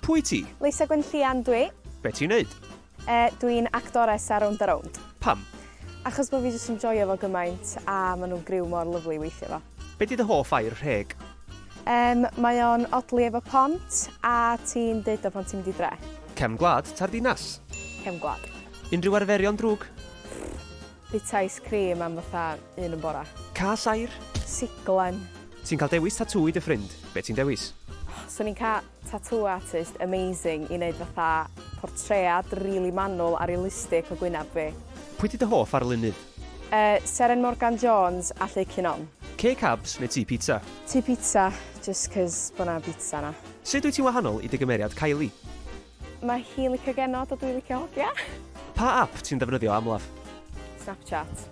Pwy ti? Lisa Gwenllian dw i. Be ti'n neud? E, dw i'n actores ar Rownd a Rownd. Pam? Achos bod fi jyst yn joio fo gymaint a maen nhw'n griw mor lyflu i weithio fo. Be di dy hoff air rheg? Em, mae o'n odli efo pont a ti'n deud o pan ti'n mynd i dre. Cefn gwlad ta'r ddinas? Cefn gwlad. Unrhyw arferion drwg? Bita ice cream am fatha un yn bora. Cael llair. Siglen. Ti'n cael dewis tatŵ i dy ffrind, be ti'n dewis? Swn i'n cael tatŵ artist amazing i wneud fatha portread rili manwl a realistic o gwyneb fi. Pwy 'di dy hoff arlunydd? Yy, Seren Morgan Jones a Lleu Cinon. Cei cabs neu tŷ pizza? Tŷ pizza, jyst 'cos bod 'na bizza 'na. Sut wyt ti'n wahanol i dy gymeriad Kylie? Mae hi'n licio genod a dwi'n licio hogia. Pa ap ti'n defnyddio amlaf? Snapchat.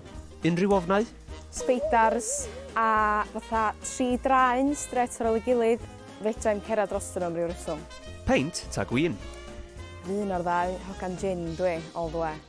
Unrhyw ofnau? Speidars a fatha tri draen strêt ar ôl ei gilydd, fedra i'm cerdded drostyn nhw am ryw reswm. Peint ta gwin? Fy un o'r ddau, hogan jin dwi, all the way.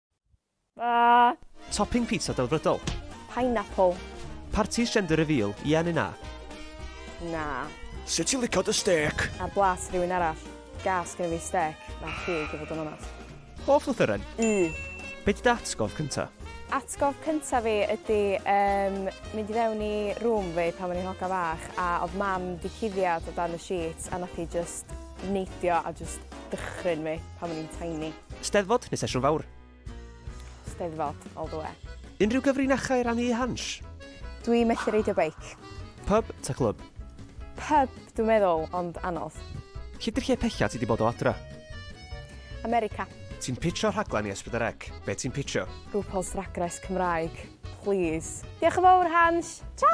Topping pizza delfrydol. Pineapple. Parties gender reveal, ie neu na? Na. Sut ti'n licio dy stêc? Ar blat rhywun arall. Gas gen fi stêc na cig i fod yn onast. Hoff lythyren? Y. Be di dy atgof cynta? Atgof cynta fi ydi um, mynd i fewn i rŵm fi pan o'n i'n hoga fach a oedd mam di cuddiad o dan y sheets a nath hi just neidio a just dychryn fi. pan o'n i'n tiny. Steddfod neu sesiwn fawr? Steddfod, all the way. Unrhyw gyfrinachau i rannu i Hans? Dwi methu reidio beic. Pub ta clwb? Pub, dwi'n meddwl, ond anodd. Lle di'r lle pecha ti di bod o adra? America. Ti'n pitcho rhaglen i Esbydyrec? Be ti'n pitcho? RuPaul's Drag Race Cymraeg, please. Diolch yn fawr, Hans. Ta!